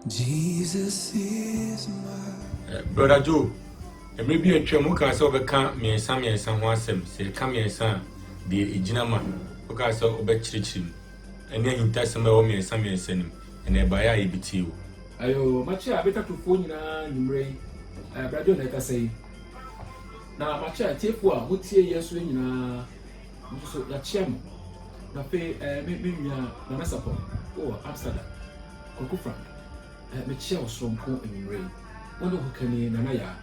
Jesus is my. Eh, Brother Joe, mmerɛ bi atwam wokaa sɛ wobɛka mmiɛnsa mmiɛnsa ho asɛm sɛ ɛka mmiɛnsa a deɛ ɛgyina ma wokaa sɛ wobɛkyerɛkyerɛ mu ɛne ahintasɛm a ɛwɔ mmiɛnsa mmiɛnsa no mu ɛna ɛbaeɛ a yɛbɛtie wo ayo makyɛ a betatofoɔ nyinaa nwummerɛ yi eh, Brother Joe na ɛkasa yi na makyɛ a tiefoɔ a motie yɛ so nyinaa nso so yɛakyia mo. Na afei eh, me, me nua Nana Sapon wɔ Amsterdam, Kwaku Frank, eh, mekyia wo soronko anwummere yi. Wo ne Hokani Nana Yaa,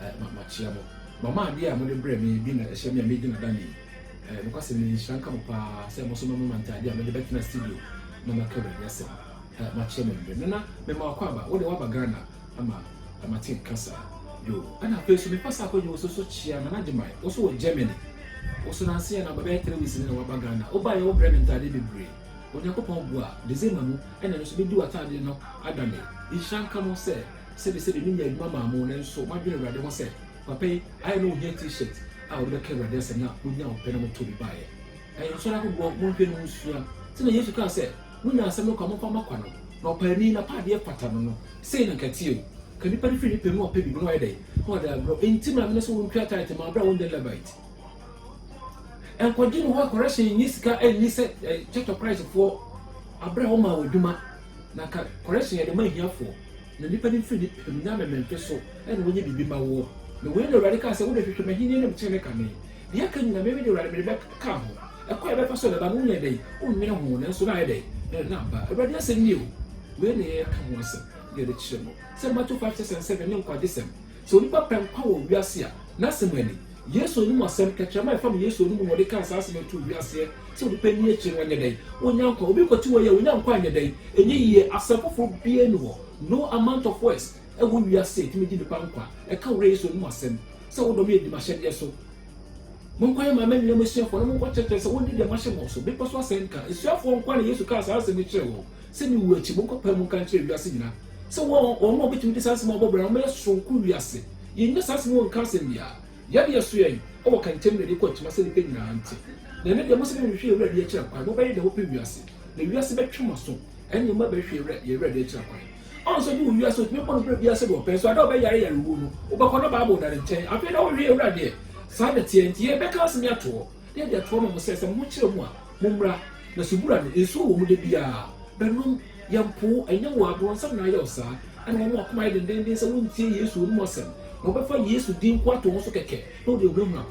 eh, ma, makyia mo. Mama adeɛ a mode brɛ me bi na ɛhyɛ me a medi n'adane yi. Eh, nokwasɛm ni, nhyira nka mo paa sɛ mo nso momema ntadeɛ a mede bɛtena studio na maka Awurade asɛm. Eh, makyia mo anwummere. Nana, mema w'akwaaba, wo deɛ woaba Ghana, ama Lamartine kasa do. Ana afei so mepɛ sa akɔgye wo so so kyea Nana Gyimai, wo so wɔ Germany. Wo so nanse yɛ na bɛbɛyɛ three weeks ni na waba Ghana. Wo baeɛ wo brɛ me ntaadeɛ bebree. Onyankopɔn boa, December mu ɛna ɛno so medi w'ataadeɛ no adane. Nhyira nka mo sɛ sɛbe sɛbe me nyaa adwuma maa mo nanso m'adwene Awurade ho sɛ papa yi ayɛ na ohia T-shirt a wɔde bɛka Awurade asɛm na mo nyaa wo pɛ na mo too bi baeɛ. Ɛyɛ nsɔre ahodoɔ monhwɛ na monsua sɛnea Yesu kaa sɛ Munya asɛm no kwa, momfa mma kwa no, na ɔpaani, n'apaadeɛ fata no no, sei na nka ɛteɛ o, Ka nipa no firi ne pɛ mu a ɔpɛ biribi na wayɛ dɛn? Na ɔde agorɔ. Enti maame no sɛ wɔntua tithe mma bere a wɔnyɛ Levite. Nkɔgye no hɔ correction nyi sika nni sɛ Church of Christ foɔ abere a wɔmaa wɔ adwuma, na ka correction yɛde ma ahiafoɔ, na nipa no mfiri ne pɛ mu nyɛ amememfe so na wɔnyɛ biribi mma woɔ. Na wei na Awurade kaa sɛ, Wode hwehwɛ m'ahennie ne me tenenee kane, Nea aka nyinaa, me, me de Awurade, mede bɛka ho. Ɛkɔ a ɛbɛfa so a ɛbɛba no, wonyɛ dɛn? Wonnwene ho, nanso na ayɛ dɛn? Na, na aba. Awurade asɛm nie o! Wei na yɛreka ho asɛm, na yɛde kyerɛ mo, sɛ Mateo five six and seven ne nkwagyesɛm. Sɛ onipa pɛ nkwa wɔ wiase a, n'asɛm ani. Yesu anim asɛm, kɛtrɛma a ɛfam Yesu anom na ɔde kaa saa asɛm yi too wiaseɛ, sɛ onipa nni akyire no, ɔnyɛ dɛn? Ɔnya nkwa. Obi kɔte hɔ yi a, ɔnya nkwa a, ɛnyɛ dɛn? Ɛnyɛ yie. Asɛm foforɔ biara nni hɔ, no amount of words, ɛwɔ wiase a ɛtumi gye nnipa nkwa, ɛka wo werɛ Yesu anom asɛm. sɛ wodɔ me adi m'ahyɛdeɛ so. Monkɔ yɛ maa m'anuanom asuafoɔ na monkɔ kyerɛkyerɛ sɛ wɔndi deɛ mahyɛ mo so. Bepɔ so asɛnka. Asuafoɔ nkoa na Yesu kaa saa asɛm yi kyerɛɛ wɔn, sɛ me wuo akyi, monkɔ pae mu nka nkyerɛ wiase nyinaa sɛ wɔn a wɔbɛtumi de saa nsɛm a wɔbɔ bra no wɔbɛyɛ soronko wiase. Yɛnnya saa asɛm yi wɔnka asɛm biara. Yɛde ɛso yɛn wɔ ka ntɛm na ɛde kɔ akyima sɛ nnipa nyinaa nte. Na ɛno deɛ mo sɛ monhwehwɛ yɛn Awurade akyira kwan, mobɛyɛ deɛ mopɛ wiase, na wiase bɛtwe mo aso, ɛnneɛ moabɛhwehwɛ yɛn Awurade akyira kwan. Ɔno nso de wo wiase a otumi bɔ no berɛ biara sɛdeɛ ɔpɛ, nso ada a ɔbɛyare yarewuo no, wobɛkɔ na Bible da ne nkyɛn. Afei na ɔhwehwɛ Awuradeɛ. Saa na ɛteɛ. Enti yei bɛka asene ato hɔ, na yɛde ato hɔ ma mo sɛ, sɛ mo ho kyerɛ mo a, mommra. Na subura no, nsuo wɔ mu da biara. Bɛnom. Yɛmpo wo. Ɛnyɛ wo a, bronsam na ayɛ wo saa. Ɛna wɔn a wɔakoma ayɛ dendenden sɛ wɔrentie Yesu, ɔnom asɛm, na wɔbɛfa Yesu din nko ato ho so kɛkɛ, na wɔde ahunahuna wo.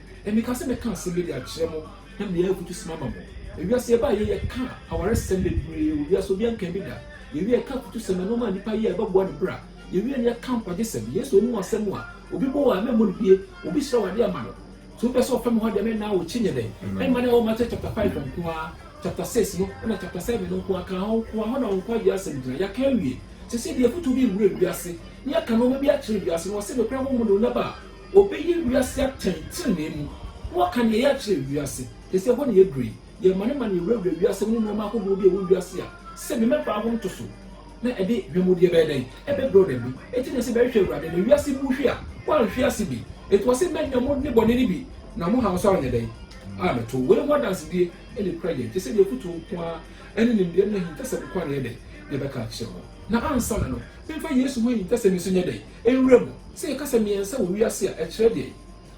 Emika sɛ mɛka asɛm bi de akyerɛ mo na mede ayɛ afutusem ama mo. Ewiase yɛbaa yei yɛkaa awaresɛm bebree wɔ wiase obiaa nkaa bi da. Yɛwie a yɛkaa afutusɛm, nnoɔma a nipa yɛ a ɛbɛboa ne bra. Yɛwie no yɛkaa nkwagyesɛm. Yesu ɔnim w'asɛm a obi bɔ wo a mɛmmɔ no bie, obi srɛ wo adeɛ ama no. So wopɛ sɛ ɔfa me hɔ deɛ me naa wo kyi nyɛ dɛn? Ɛmma no ɛwɔ Matthew chapter five hɔ nko ara, chapter six no ɛna chapter seven no nko ara, kaa hɔ nko ara, hɔ na wo nkwagyeɛ asɛm gyina. Yɛaka awie. Sesei deɛ afutuo bi rewura wiase na yɛaka nnoɔma bi akyerɛ wiase no wɔse nokorɛ honhom de ɔnya ba a Wɔbɛyɛ wiase atɛn tenenee mu, na wɔaka nea ɛyɛ akyerɛ wiase. Te sɛ ɛhɔ na yɛaduru yi, yɛn mmanemane awurawura wiase mu ne nneɛma ahodoɔ bi a ɛwɔ wiase a sɛ me mɛbaa ho ntoso na ɛde hwamudeɛ bɛyɛ dɛn? ɛbɛbrɛ wɔn ani. Ɛte nea sɛ mɛhwehwɛ Awurade na wiase bu hwe a wanhwe ase bi. Ɛtoa sɛ, Mɛnya mo nnebɔne no bi, na mo haw nso anyɛ dɛn? ammɛto. Wei ho adansedie na ɛkura yɛn, te sɛ deɛ afotuo nko ara ne nimdeɛ ne ahintasɛm nko ara na ɛyɛ dɛn? na ɛbɛka akyerɛ wɔn. Na ansa na no, memfa Yesu ho ahintasɛm nso nyɛ dɛn? Nwuram, sɛ yɛka sɛ mmiɛnsa wɔ wiase a, ɛkyerɛ deɛn?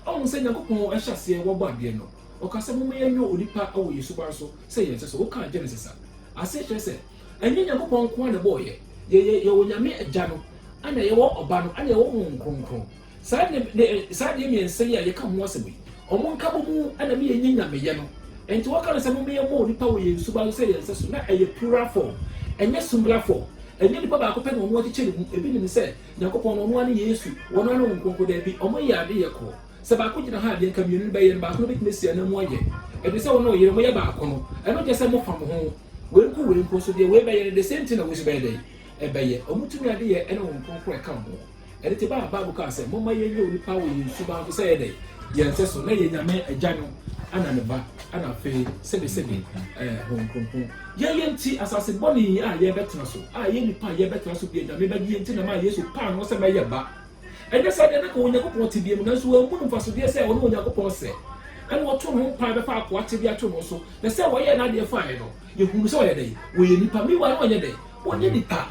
Woahu sɛ Nyankopɔn a ɛhyɛ aseɛ wɔ bɔ adeɛ no, ɔkaa sɛ momma yɛnyɔ onipa wɔ yɛn suban so sɛ yɛn nhyɛso. Wokaa Genesis a, aseɛ kyerɛ sɛ ɛnyɛ Nyankopɔn nko ara na ɛbɔɔ yɛn. Yɛyɛ, yɛwɔ Nyame Agya no, ɛna yɛwɔ Ɔba no, ɛna yɛwɔ Honhom Kronkron. Saa nne, nne, saa nneɛ mmiɛnsa yi a yɛka ho asɛm yi, Wɔn nkabɔ mu na meyɛ nyɛ nyameyɛ no. Enti wɔka no sɛ, Momma yɛmmɔ onipa wɔ yɛn suban so sɛ yɛn sɛso. Ná ɛyɛ plural form, ɛnyɛ singular form. Ɛnyɛ onipa baako pɛ na wɔn akyekyɛ ne mu. Ebi nim sɛ Nyankopɔn no, ɔno ara ne Yesu, wɔn ara ne Honhom Kronkron. Dabi, wɔyɛ ade yɛ koro. Sɛ baako gyina ha a, deɛ anka mmienu no bɛyɛ no, baako no betumi asi ananmu ayɛ. Ɛde sɛ wo ne wo yere moyɛ baako no, ɛno nkyerɛ sɛ mofa mo ho. Wei nko wei nko nso, deɛ wei bɛyɛ no, the same thing na wei nso bɛyɛ dɛn? Ɛbɛyɛ. Wɔn tumi adeyɛ ne Honhom Kronkron a ɛka wɔn ho. Ɛde te bɛ a Bible kaa sɛ, Momma yɛnyɛ onipa wɔ yɛn suban so sɛ yɛdɛn? Yɛn sɛ so, na yɛ Nyame Agya no ɛna ne Ba ɛna afei sɛde sɛde ɛɛ Honhom Kronkron. Yɛn yɛn nti asase bɔne yi a yɛbɛtena so, a yɛn nipa a yɛbɛtena so deɛ Nyame bɛgye yɛn nti na ɛmaa Yesu paa no sɛ mɛyɛ ba. Ɛnyɛ saa deɛ na ka wɔ Onyankopɔn tebea mu, nanso wanhu no mfasodeɛ sɛ ɔne Onyankopɔn sɛ, ɛna ɔto ne ho mpae bɛfa akoa tebea ato no so, na sɛ ɔyɛɛ n'adeɛ faeɛ no, yɛhu no sɛ ɔyɛ dɛn? Ɔyɛ nipa. Meanwhile na ɔnyɛ dɛn? Ɔnyɛ nipa.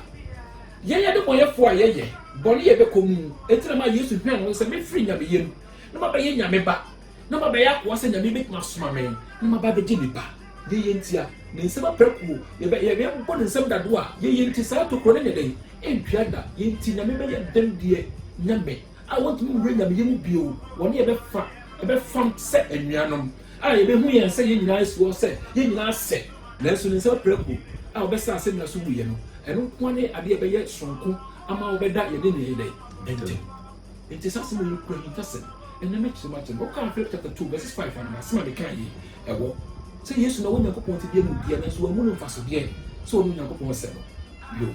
Yɛyɛ adebɔyɛfoɔ a yɛyɛ bɔne yɛbɛkɔ mu, enti na ɛmaa Yesu hwɛn wɔn sɛ, Mefiri Nyameyɛ mu, na mabɛyɛ Nyame Ba, na mabɛyɛ akoa sɛ Nyame bɛtumi asoma me, na maba abɛgye nnipa. Yɛyɛ nti a, Ne nsam aprakuo, yɛbɛ, yɛ, yɛbɔ Ne nsam dadoɔ a, yɛyɛ nti saa tokuro no nyɛ dɛn? Ɛntua da, yɛ nti Nyame bɛyɛ dɛn deɛ Nyame? a wɔntumi nwura Nyameyɛ mu bio, wɔne yɛn bɛfa, ɛbɛfam sɛ anuanom, a yɛbɛhu yɛn sɛ yɛn nyinaa asi hɔ sɛ yɛn nyinaa sɛ. Nanso ne nsam apirakuro a ɔbɛsaa asɛnnua so wuiɛ no, ɛno nko ara ne adeɛ a ɛbɛyɛ sononko ama wɔbɛda yɛne nea ɛyɛ dɛn? Ntam. Enti saa asɛm wei no kura ahintasɛm. Ɛnnɛ mɛkyerɛ mu akyerɛ mo. Wokan Philip chapter two verses five anaa? Asɛm a mekae yi, ɛwɔ. Sɛ Yesu na ɔwɔ Nyankopɔn tebea mu deɛ, nanso wɔammu no mfasodeɛ sɛ ɔne Onyankopɔn Asɛm no. Yoh.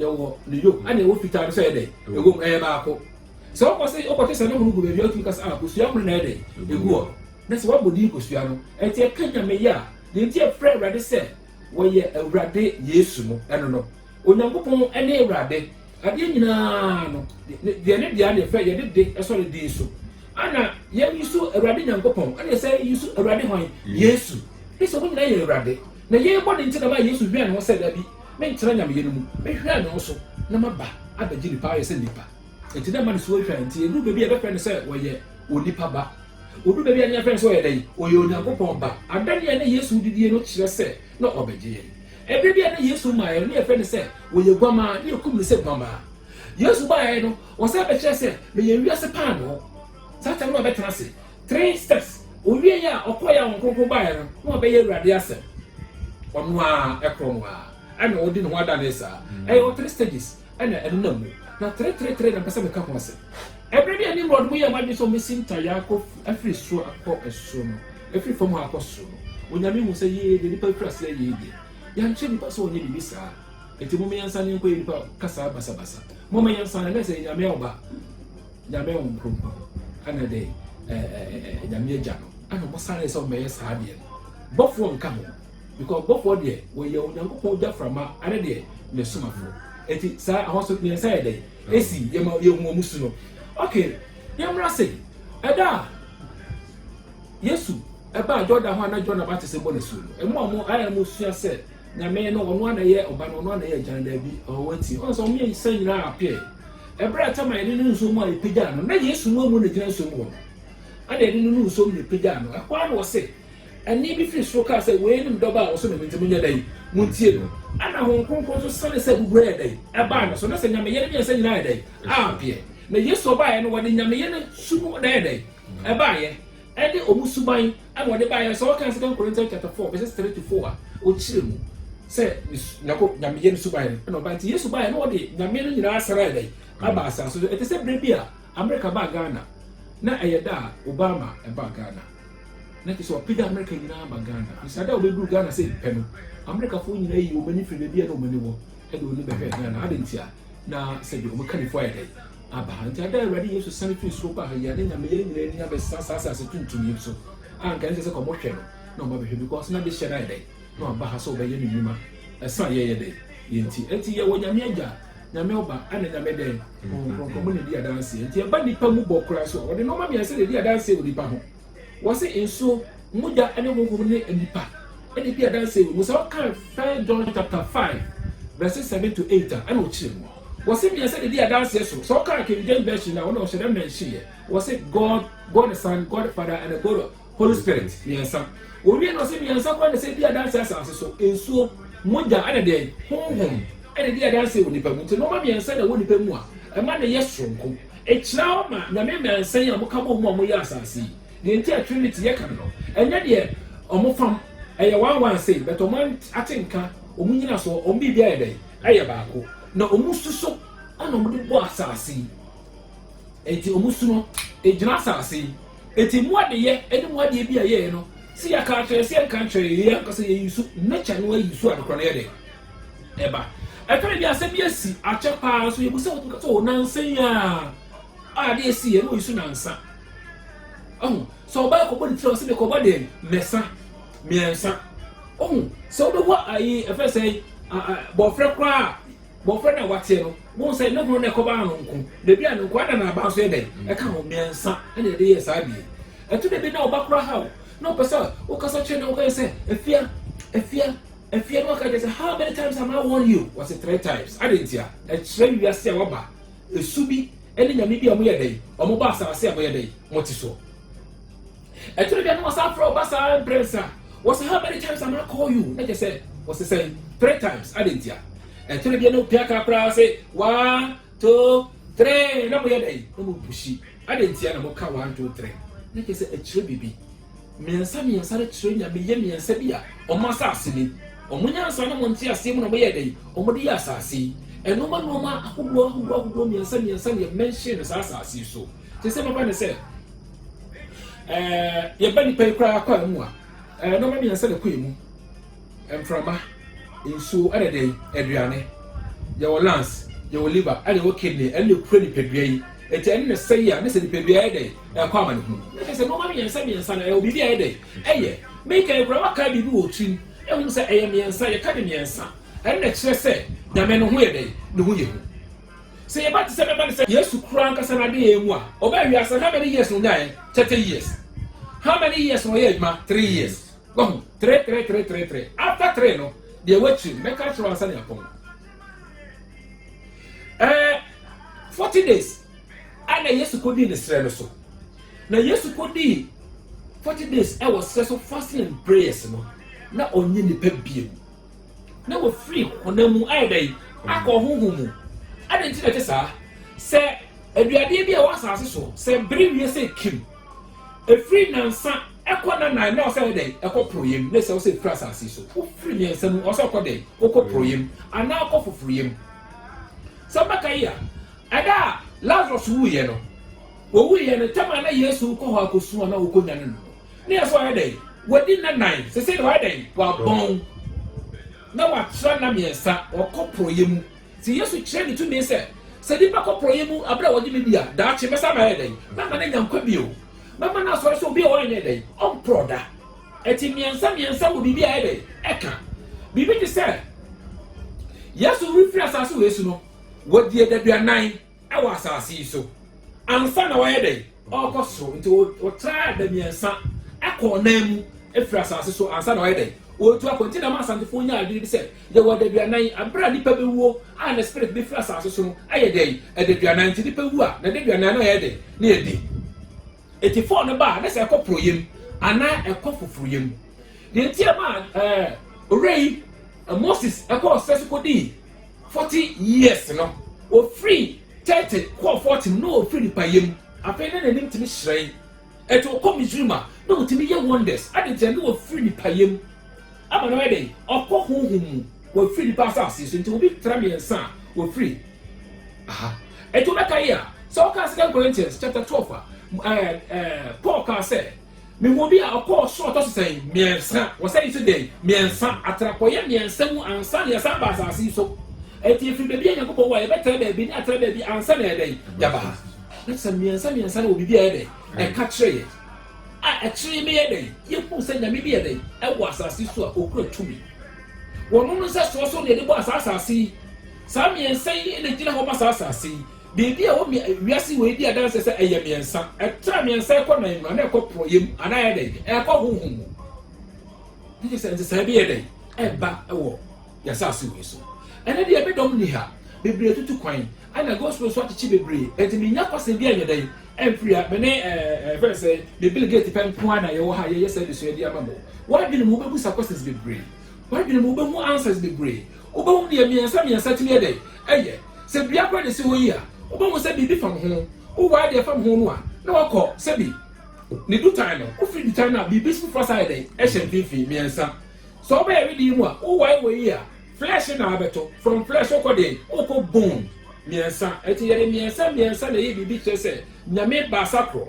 yɛwɔ ne yo ɛna ɛwɔ fitaa no sɛ ɛyɛ dɛ ɛwɔ mu ɛyɛ baako sɛ ɔkɔ sɛ ɔkɔte sɛ ne ho no gu baabi ɔtumi kasa a ah, kosua ho no na ɛyɛ dɛ ɛgu hɔ na sɛ wabɔ din kosua no ɛnti ɛka nyame yɛ a deɛ nti ɛfrɛ awurade sɛ wɔyɛ awurade yesu no ɛno no onyankopɔn ɛne awurade adeɛ nyinaa no deɛ ne deɛ ne fɛ yɛde de ɛsɔ ne din so ana yɛn yi so awurade nyankopɔn ɛna sɛ yi so awurade hwan yesu ɛsɛ wɔn nyinaa yɛ awurade Na yei bɔne nti na ɛmaa Yesu hwɛɛ ne ho sɛ, Dabi, mentena nyameyɛ no mu. Mɛhwɛ me ho so na maba abɛgye nnipa ayɛ sɛ nnipa. Enti na ɛma ne su atwa, enti ɛduru baabi a yɛbɛfrɛ no sɛ ɔyɛ onipa ba. Ɔduru baabi a na yɛfrɛ no sɛ ɔyɛ dɛn? Ɔyɛ Onyankopɔn Ba. Adanneɛ a na Yesu de die no kyerɛ sɛ na ɔrebɛgye yɛn. Ɛberɛ bi a na Yesu mmaeɛ no, na yɛfrɛ no sɛ ɔyɛ guammaa, na yɛkum no sɛ guammaa. Yesu baeɛ no, ɔsan bɛkyerɛɛ sɛ, Meyɛ wiase paanoo. Saa tam no abɛtena ase. Three steps, Owiei a ɔkɔe a ɔnkonko bae no na ɔbɛyɛ Awurade asɛm. Ɔno ara ɛkorɔ no ara na ɔdi ne ho adanee saa. Ɛyɛ wɔ three stages na ɛnenam mu. Na three three three na mpɛ sɛ meka ho asɛm. Ɛberɛ bi a Nimrod mo yɛɛ mo adwene sɛ ɔmmɛsi ntayaa akɔ afiri soro akɔ soro no, ɛfiri fam ha akɔ soro no, Onyame hu sɛ yee deɛ nipa firi aseɛ yee deɛ. Yɛankyerɛ nipa sɛ ɔnyɛ biribi saa. Enti momma yɛnsane nkɔyɛ nipa kasaa basabasa. Momma yɛnsane, na sɛ yɛ Nyame a ɔba. Nyame Hom Kronkron, ana dɛ Nyame Egya no, ana wɔsanee sɛ wɔbɛyɛ saa adeɛ no. Bɔfoɔ nka ho, because bɔfoɔ deɛ wɔyɛ Onyankopɔn gyaframa ana deɛ Ne somafoɔ. Enti saa ahosuo mmiɛnsa yɛ dɛn? Esi yɛma yɛhu wɔn su no. Ok, yɛmmra se, ɛda a Yesu ɛbaa Jordan ho a na John Abatiso bɔ N'asuo no, mmoa a wɔn ayɛ no sua sɛ, Nyame no ɔno ara na ɛyɛ ɔba no ɔno ara na ɛyɛ agya no daabi ɔwɔ ti ɔn sɛ wɔn mmiɛnsa nyinaa appear ɛberɛ a tama yɛde no nsuo mu a yɛpagyaa no na Yesu mu amu na gyina nsuo mu hɔ no ɛna yɛde no no nsuo mu na yɛpagyaa no ɛhɔ ara na ɔse ɛnne bi firi soro kaa sɛ wei ne me dɔba a ɔsɔ me mu nti monyɛ dɛn montie no ɛna Honhom Kronkron nso sane sɛ buburɔ yɛ dɛn ɛbaa ne so na sɛ Nyame yɛ no mmiɛnsa nyinaa yɛ dɛn appear na Yesu ɔbaeɛ no wɔde Nyame yɛ no su no na yɛ dɛn ɛbaeɛ ne wɔn suban na wɔde baeɛ. Sɛ wɔkan Second Corinthians chapter four verses three to four a, wɔkyerɛ mu sɛ ne su Nyako Nyame yɛ ne suban no na ɔbae. Nti Yesu baeɛ na ɔde Nyame no nyinaa asan ayɛ dɛn? Aba asaase so. Ɛte sɛ berɛ bi a Amerika baa Ghana na ɛyɛ da a Obama ɛbaa Ghana. Na kyerɛ sɛ wapagya Amerika nyinaa aba Ghana. Nti saa da a wɔbɛduru Ghana sɛ pɛ no, Amerikafoɔ nyinaa yi wɔn ani firi baabi a na wɔn ani wɔ de wɔn ani bɛhwɛɛ Ghana. Adɛn ntia? Na sɛdeɛ wɔn kannifoɔ ayɛ dɛn? aba ha. Enti, ada a Awurade Yesu sian fii soro baa ha yi, anna Nyame yɛn nyinaa ani abɛsesa saa asase tuntum yi so, a anka ɛnsɛ sɛ wɔhwɛ no na wɔabɛhwɛ, because na dehyeɛ no ayɛ dɛn, na waba ha sɛ ɔbɛyɛ ne nnwuma, ɛsɛ a yɛyɛ dɛn? Yɛnti. Enti, yɛwɔ Nyame Agya, Nyame Ɔba, ɛna Nyame dɛn? Honhom Kronkron, mo na ɛdi adanseɛ. Enti, ɛba nnipa mu bɔ koraa so a, wɔde nnoɔma mmiɛnsa na ɛdi adanseɛ wɔ nnipa ho. Wɔse nsuo, mogya ne honhom ne nnipa na ɛdi adanseɛ wɔ mu. Sɛ wokan First John chapter five verses seven to eight a ɛna ɔkyerɛ mu. Wɔse mmiɛnsa na ɛdi adanseɛ so. Sɛ wokan King James version a wɔn ɔhyɛ da mention yɛ. Wɔse God, God the Son, God the Father and God the Holy Spirit, mmiɛnsa. Wɔwie na wɔse mmiɛnsa koraa na ɛsɛ di adanseɛ asase so, nsuo, mogya ɛna dɛn? Honhom ɛna ɛdi adanseɛ wɔ nnipa mu. Nti nnoɔma mmiɛnsa na ɛwɔ nnipa mu a ɛma no yɛ soronko. Ekyira wo ma Nyame mmansa yi a ɔmo ka bɔ mu a ɔmo yɛ asaase yi. Deɛ nti a Trinity yɛ kan no, ɛnyɛ deɛ ɔmo fam, ɛyɛ one one sei, but ɔmo ate nka, ɔmo nyinasoɔ, ɔmo biribi ayɛ dɛn? Ayɛ baako. Na ɔmo su so na ɔmo de bɔ asaase yi. Enti ɔmo su no, egyina asaase yi. Enti mo adeyɛ ne mo adeɛ bi a yɛyɛ no, sɛ yɛka akyerɛ, sɛ yɛnka nkyerɛ, yɛyɛ ankasa, yɛyi su, nature no ayi su a nokorɛ no yɛ dɛn? ɛba. Ɛtɔre bi asɛm bi asi akyɛ paa so yɛbu sɛ wotumi ka sɛ o nansa yi a a ade asi yɛ na oyi so nansa. Ɔho sɛ ɔbaa kɔbɔ ne tiri ɔsɛ me kɔbɔ deɛ mɛsa mmiɛnsa. Ɔho sɛ wobɛwɔ ayi ɛfɛ sɛ bɔfrɛ koraa bɔfrɛ na wateɛ no wɔn sɛ ne ho na ɛkɔba ano nko na ebi a no nko ada na aba nso yɛ dɛ ɛka ho mmiɛnsa ɛna ɛde yɛ saa deɛ ɛto na ebi na ɔba koraa ha o na ɔpɛ sɛ wokasa kyerɛ na wokasa sɛ afia afia Afia no aka akyerɛ sɛ, How many times am I warn you? Ɔse, Three times. Adɛn ntia? Ɛkyerɛ wiase a wɔaba, su bi ne nyame bi a wɔyɛ dɛn? Wɔbɔ asaase a wɔyɛ dɛn? Wɔte soɔ. Ɛtore bia na wɔsan frɛ ɔba saa mprɛnsa. Wɔse, How many times am I call you? Na kyerɛ sɛ, wɔse sɛn? Three times. Adɛn ntia? Ɛtore bia na opia kaa koraa se, One, two, three. Na moyɛ dɛn? Na mopushi. Adɛn ntia na moka one, two, three? Na kyerɛ sɛ ɛkyerɛ biribi. Mmiɛnsa mmiɛnsa no kyerɛ nyame yɛ mmiɛnsa bi a wɔn asase ni. Wɔn nyansa ne wɔn nteaseɛ mu na wɔyɛɛ dɛn? Wɔde yɛɛ asase yi. Nnoɔma nnoɔma ahodoɔ ahodoɔ ahodoɔ mmiɛnsa mmiɛnsa na yɛmɛnhyen no saa asase yi so. Te sɛ mɛba ne sɛ ɛɛ yɛba nipa yi koraa kɔ a mu a ɛɛ nnoɔma mmiɛnsa na ɛkɔ emu. Mframa, nsuo ɛne dɛn? Aduane. Yɛwɔ lungs, yɛwɔ liver ɛne yɛwɔ kidney, ɛno na ɛkura nipadua yi. Enti ɛno na sɛi a, ne sɛ nipadua yɛ dɛn? Ɛkɔ amanehunu. Na kyerɛ sɛ nnoɔma mmiɛnsa mmiɛnsa no, ɛwɔ biribi a ɛyɛ dɛn? Ɛyɛ. Mekan koraa woakae biribi wɔ wo tirim, ɛwom sɛ ɛyɛ mmiɛnsa, yɛka ne mmiɛnsa. Ɛno na ɛkyerɛ sɛ Nyame no ho yɛ dɛn? Ne ho yɛ hu. Sɛ yɛba te sɛ bɛba no sɛ Yesu koraa ankasa n'adeyɛɛ mu a, ɔbaa wiase no how many years na ɔnyaeɛ? Thirty years. How many years na ɔyɛɛ adwuma? Three years. Wahu? Tre, tre, tre, tre, tre. After tre no, deɛ ɛwɔ akyire no, mɛka akyerɛ wo ansa ne apɔn. Ɛɛ, eh, forty days ɛna Yesu kɔ dii ne srɛ no so. Na Yesu kɔ dii forty days ɛwɔ srɛ so fasting and prayers no, na ɔnye nipa biem. Na wɔfiri honam mu ayɛ dɛ akɔ ɔhoho mu. Adɛn nti na ɛte saa? Sɛ aduadeɛ bi a ɛwɔ asase so, sɛ bere wie sɛ kim. Ɛfiri nansa ɛkɔ na nan na ɔsɛ yɛ dɛn ɛkɔ poroyɛ mu ne sɛ ɔsɛ ɛfiri asase so wofiri mmiɛnsa mu ɔsɛ ɔkɔ dɛn ɔkɔ poroyɛ mu anaa ɔkɔ foforɔyɛ mu sɛ mbɛka yi a ɛda a Lazarus wuiɛ no wɔwuiɛ no tɛm a na Yesu kɔ hɔ akɔsu a na wɔkɔ nyane no no ne yɛ sɛ ɔyɛ dɛn wɔdi nna nan sese de ɔyɛ dɛn wɔabɔn na wɔatra nna mmiɛnsa ɔkɔ poroyɛ mu Enti Yesu kyerɛ ne tumi sɛ, Sɛ nnipa kɔ porɔeɛ mu berɛ a wɔgye me di a, daakye mɛsan ayɛ dɛn? Mɛma no anya nkwa bio. Mɛma no asɔre sɛ obi a ɔrenyɛ dɛn? Ɔmporɔ da. Enti mmiɛnsa mmiɛnsa wɔ biribi a ɛyɛ dɛn? Ɛka. Biribi te sɛ Yesu refiri asase wei so no, wɔdii adaduanan. wɔ asase yi so ansa na wɔyɛ dɛn ɔrekɔ soro nti wɔtraa da mmiɛnsa kɔɔ nan mu firi asase so ansa na wɔyɛ dɛn wɔretu akɔ nti na ma asantefoɔ nya adwene bi sɛ yɛwɔ adaduanan abere a nipa bɛwuo a ne spirit bɛfiri asase so no ayɛ dɛn adaduanan nti nipa wu a na adaduanan no ayɛ dɛn ne yɛdi Enti fɔɔ no ba a, na sɛ ɛkɔ porɔeɛ mu anaa ɛkɔ foforoeɛ mu. Deɛ nti a ɛmaa ɛɛ owura yi Moses kɔɔ sɛ so kɔdii forty years no, ɔfiri thirty kɔɔ forty mu na ɔfiri nipayɛ mu. Afei na n'anim tumi hyerɛn. Ɛti wɔkɔ Misraim a, na wɔtumi yɛ wonders. Ade nti a na wɔfiri nipayɛ mu. Ama no ayɛ dɛn? Ɔkɔ honhom mu. Wafiri nnipa asase so. Enti obi tra mmiɛnsa a, wafiri ha. Enti wobɛka yi a, sɛ wokaa Second Corinthians chapter twelve a, ɛɛ, ɛɛ, Paul kaa sɛ, Mehuu obi a ɔkɔɔ ɔsoro a ɔtɔ so sɛn? Mmiɛnsa. Wɔsɛn nso dɛn? Mmiɛnsa. Atra kɔeɛ mmiɛnsa mu ansa na yɛsan baa asase yi so. Enti yɛfiri baabi a Nyankopɔn wɔ a yɛbɛtra baabi ne atra baabi ansa na yɛayɛ dɛn? Yɛaba ha. Na kyerɛ sɛ mmiɛnsa mmiɛnsa no wɔ biribi a ɛyɛ dɛn? Ɛka kyerɛ yɛn. A Akyiri yi meyɛɛ dɛn? Yehuu sɛ Nyame bi yɛ dɛn? Ɛwɔ asase yi so a okura tumi. Wɔnom no nsɛsoɔ so na yɛde bɔɔ saa asase yi. Saa mmiɛnsa yi na egyina hɔ ma saa asase yi. Biribi a ɛwɔ wiase wei di adanseɛ sɛ ɛyɛ mmiɛnsa. Ɛtra mmiɛnsa ɛkɔ nan mu, anaa ɛkɔ porɔeɛ mu, anaa ɛyɛ dɛn? Ɛkɔ honhom mu. Ɛne sɛ nsesaeɛ bi yɛ dɛn? Ɛba wɔ yɛasase wei so. Ɛnɛ deɛ me dɔm nni ha. Bebree tutu kwan. Ɛna gospel nso akyekye bebree. Ɛnti menya kwasɛm bi a ɛyɛ dɛn? Ɛmfiri ha, me ne, ɛɛ, yɛfrɛ no sɛn, me Bill Gates pɛ nko ara na yɛwɔ ha a yɛyɛ saa adesua yi de ama mo. W'adwene mu, wobɛbisa questions bebree. W'adwene mu, wobɛhu answers bebree. Wobɛhu deɛ mmiɛnsa mmiɛnsa tumi yɛ dɛn? Ɛyɛ. Sɛ dua koraa na ɛsi hɔ yi a, wobɛhu sɛ biribi fam ho. Wowɔ adeɛ fam ho no a, na wakɔ, sɛbi, ne dutan no. Wofiri dutan no a, biribi foforɔ asan ayɛ dɛn? Ɛhyɛ mfimfini, mmiɛnsa. Sɛ wobɛyɛ wedeɛ yi mu a, wowɔ wɔ yi a, Flesh na abɛtɔ, from flesh wokɔ deɛn? Wokɔ bone, mmiɛnsa. Ɛnti yɛde mmiɛnsa mmiɛnsa na ɛyɛ biribi kyerɛ sɛ Nyame baasa korɔ.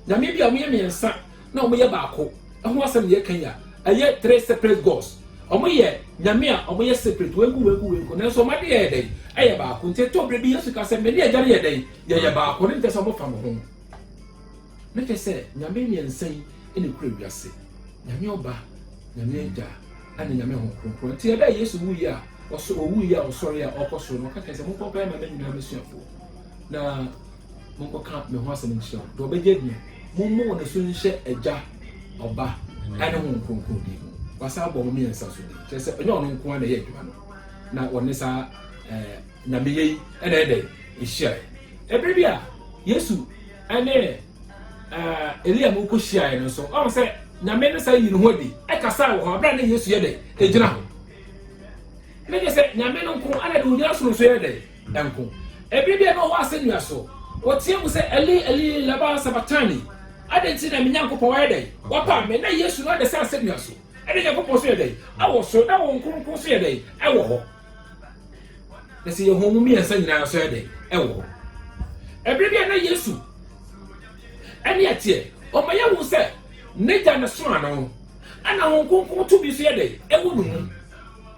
Nyame bi a wɔyɛ mmiɛnsa na wɔyɛ baako ho asɛm na yɛka yi a, ɛyɛ three separate gods. Wɔyɛ Nyame a wɔyɛ separate, wei nko wei nko wei nko, nanso wɔn adeɛ yɛ dɛn? Ɛyɛ baako. Nti ɛtɔ berɛ bi Yesu ka sɛ, Mene Agya no yɛ dɛn? Yɛyɛ baako. Ne nkyɛ sɛ wɔfa mo ho. Ne kyɛ sɛ Nyame mmiɛnsa yi na ɛkura wiase, Nyame Ɔba, Nyame Agya, Ana Nyame hon krɔnkrɔn nti ɛbɛɛ Yesu wu yɛ a ɔsɔ owu yɛ a ɔsɔre a ɔkɔ soro no ɔka kyerɛ sɛ monkɔ nkɔyɛ mama nyinaa masuafoɔ na monkɔ ka me ho asɛm nkyerɛ wɔn deɛ ɔbɛgye adie mo mo wɔn so nhyɛ agya ɔba ɛne hon krɔnkrɔn din mu wasa abɔ mo mmiɛnsa so din kyerɛ sɛ ɛnyɛ ɔno nko ara na ɛyɛ adwuma no na ɔne saa ɛɛ. na meyɛ yi na ɛyɛ dɛn? Ehyiae. Bere bi a Yesu ne Elia no kohyiae no nso, ɔn sɛ Nyame no san yii ne ho adi kasaa wɔ hɔ bere a na Yesu yɛ dɛn? Egyina hɔ. Ne kyerɛ sɛ Nyame no nko na de ogyina soro nso yɛ dɛn? Nko. Bere bi a na ɔwɔ asɛnnua so, ɔteɛ mu sɛ Eli Eli lama sabaktani? Adɛn nti na me Nyankopɔn wayɛ dɛn? Wapam me? Na Yesu no ada sɛ asɛnnua so. Ɛna Nyankopɔn nso yɛ dɛn? Ɛwɔ soro. Na wɔn Kronkron nso yɛ dɛn? Ɛwɔ hɔ. na sɛ yɛhu ɔmo mmiɛnsa nyinaa nso yɛ dɛn ɛwɔ hɔ ɛbere bi a na yesu ɛne ɛteɛ ɔmo yɛ hu sɛ n'agya na soma no ɛna ho nkonkon tumi nso yɛ dɛn ɛwɔ ne mu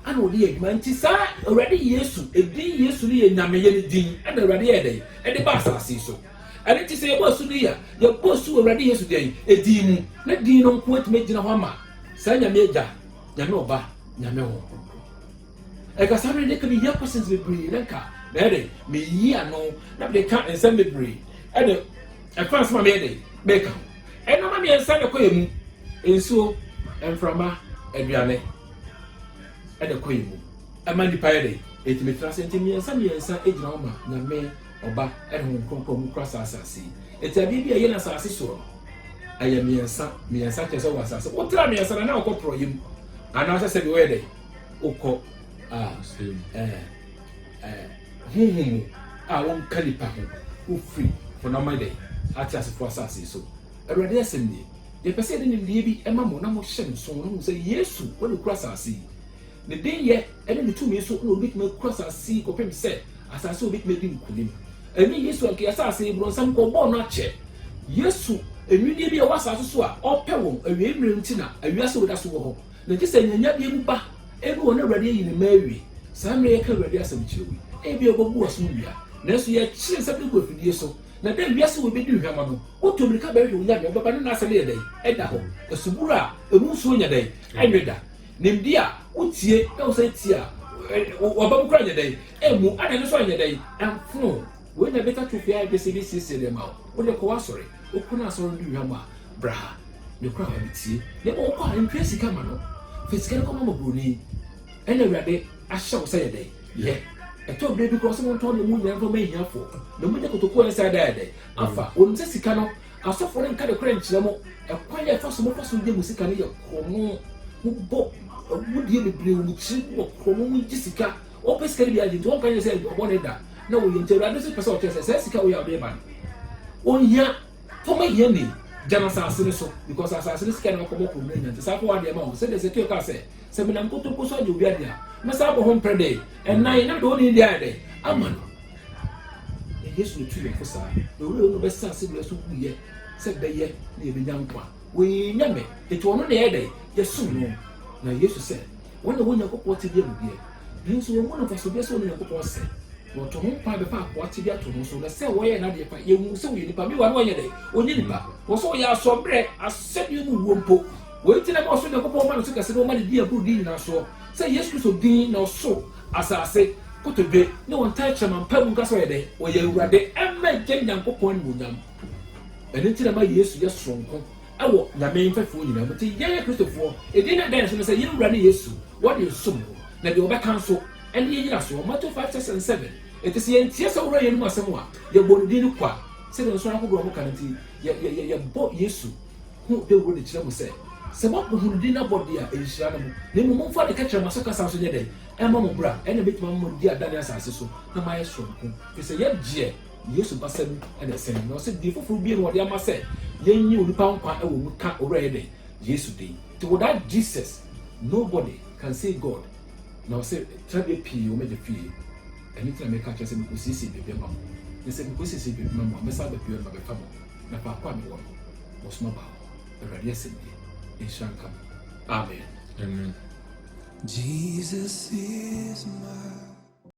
ɛna ɔde yɛ adwuma nti saa awurade yesu edin yesu no yɛ nyameyɛ ne din ɛna awurade yɛ dɛn ɛde ba asase so ɛne ti sɛ yɛbɔ asu no yɛ yɛbɔ asu awurade yesu dɛn edin mu ne din no nko atumi agyina hɔ ama saa nyame agya nyame ɔba nyame ho Ɛkasa no de ka ne hia questions bebree na nka mɛyɛ dɛ meyi ano na mede ka nsɛm bebree ɛde ɛfa nsɛm a meyɛ dɛ meka ho. Ɛnama mmiɛnsa na ɛkɔ yɛ mu, nsuo, mframa, aduane ɛna ɛkɔ yɛ mu. Ɛma nipa yɛ dɛ ɛtumi tra ase nti mmiɛnsa mmiɛnsa gyina hɔ ma nyame, ɔba ɛne honhom kronkron mu kora saa asase yi. Ɛti adeɛ bi a ɛyɛ no asase soɔ no ɛyɛ mmiɛnsa mmiɛnsa kyɛ sɛ wɔ asase wotra mmiɛnsa na na wokɔ porɔyɛ mu anaasɛ sɛbi wɔyɛ dɛ. wokɔ a ɛɛ ɛɛ honhom mu a wonka nipa ho wofiri wɔn ama dɛ ateasefo asase so awurade asɛm nie yɛpɛ sɛ yɛde nimdeɛ bi ɛma mo na mohyɛ no so na mo sɛ yesu wɔde kura asase yi ne denyɛ ɛne ne tumi so na obetumi akura asase yi kɔpem sɛ asase obetumi adi nkunim ɛne yesu anka asase yi bronsam kɔ bɔɔ no akyɛ yesu nnwinnie bi ɛwɔ asase so a ɔpɛ wɔn awie mmerɛ nti na awia sɛ wɔda so wɔ hɔ Na gye sɛ nea nya biem ba, ebe wɔ na Awurade ayi ne mma awie. Saa mmerɛ yɛka Awurade asɛm kyerɛ wo yi, ebia wobɛbu w'aso awia, nanso yɛkyere nsɛm no gu afidie so. Na dɛn, wiase wɔ bɛdi nhwɛma no, wotu mmirika bɛhwehwɛ wo Nyame, wobɛba ne n'asɛm yɛ dɛn, ɛda hɔ, asubura a ɛmu nsuo nyɛ dɛn, ɛnwe da, nimdeɛ a wotie na wosan tie a wɔba mu koraa nyɛ dɛn, ɛmmu, adane nso anyɛ dɛn, ɛmfono. Wei na ɛbɛka to pii a ɛpɛ sɛ ebi siesie nneɛma a wo de kɔ w'asɔre. Wokɔ na asɔre no di hwam a, bra ha. Ne kora a metie. Na mmom wokɔ a, ntwɛn sika ma no. Fa sika no kɔma mmɔborɔni. Ɛna Awurade ahyɛ wo sɛ yɛ dɛn? Yɛ. Ɛtɔ berɛ bi koraa ɔse montɔn ne mu nyinaa mfa ma ahiafoɔ. Na monyɛ kotokuo a ɛnsa da yɛ dɛn? Afa. Wonim sɛ sika no, asɔfoɔ no nka nokorɛ nkyerɛ mo. Ɛkwan a ɛfa so mofa so gye mo sika no yɛ korɔno. Mobɔ agudeɛ bebree wɔ mo tiri mu wɔ korɔno mu gye sika. Wɔpɛ sika no bi adi nti wɔnka nkyerɛ sɛ ɔbɔ ne da na wɔyɛ nti awurade nso pɛ sɛ ɔkyerɛ sɛ saa sika wei a wode reba no ɔnhia fam ahia ni gya no asase no so because asase no sika na wakɔbɔ kɔn mu anya nti saa kɔ wɔ adeɛ ma wɔn sɛdeɛ sɛkio kaa sɛ sɛ menam kotokuo so agye obi adeɛ a mɛsa abɔ ho mprɛ dɛ ɛnan na mede wo ne deɛ ayɛ dɛ ama no na yesu na tu yɛn fo saa na owurɛ no bɛsa ase deɛ so wuyɛ sɛ bɛyɛ na yɛbɛnya nkwa wɔyɛ nyame ɛti ɔno na yɛ dɛ yɛsom no na yesu sɛ Wɔn a wɔn Nyankopɔn tebea mu deɛ, nanso wɔmmu no mfasodeɛ sɛ wɔne Nyankopɔn sɛ, na wɔto ho kwan bɛfa akoa tebea to ho so, na sɛ wɔyɛ n'adeɛ pɛ, yɛhu sɛ wɔyɛ nipa, meanwhile na wɔnyɛ dɛn? Wɔnyɛ nipa. Wɔ sɛ wɔyɛ asoɔbrɛ, asɛdeɛ mu wuo mpo. Wei nti na ɛma ɔsoro Nyankopɔn ma no so kɛse na ɔma no din a ɛboro din nyinaa soɔ, sɛ Yesu Kristo din, na ɔsoro, asase, kotodwe, ne wɔn tɛnkyerɛma mpae mu nka sɛ ɔyɛ dɛn? Ɔyɛ Awurade, ɛmma Agya Nyankopɔn animuonyam. Ɛno nti na ɛma Yesu yɛ soronko. Wɔ Nyame mfɛfoɔ nyinaa mu nti yɛyɛ Kristofoɔ, edin no a ɛda yɛn so ne sɛ yɛn Wura ne Yesu, wɔde yɛn som no, na deɛ ɔbɛka nso, ɛne yɛn nyinasoɔ, Mateo five six and seven, enti sɛ yɛntie saa Wura yi anom asɛm a, yɛbɔ ne din no kwa, sɛdeɛ nsɔre ahodoɔ a moka no nti, yɛ, yɛ, yɛ, yɛbɔ Yesu ho dawuro de kyerɛ mo sɛ, sɛ moapoho ne din no abɔ deɛ a, ɛnhyira no mo, na mmom momfa ne kɛtrɛ ma so kasa nso nyɛ dɛn, ɛmma mo bra, ɛnna mɛtumi ama mo adi adanne asase so, na moayɛ sononko, firi sɛ yɛgyeɛ. Yesu basɛm ne sɛn? Na ɔse, Din foforo bio na wɔde ama sɛ yɛnnye onipa nkwa wɔ mu ka Owura yɛ dɛn? Yesu din. Nti without Jesus, nobody can see God. Na ɔse, Tenabea pii wɔ m'Agya fie, ɛno nti na meka akyerɛ sɛ mekosiesie baabi ama mo. Na sɛ mekosiesie baabi ma mo a, mɛsan aba bio na mabɛfa mo, na faako a mewɔ no, mosoma ba hɔ. Awurade asɛm nie. Nhyira nka mo. Amen. Amen. Jesus is my.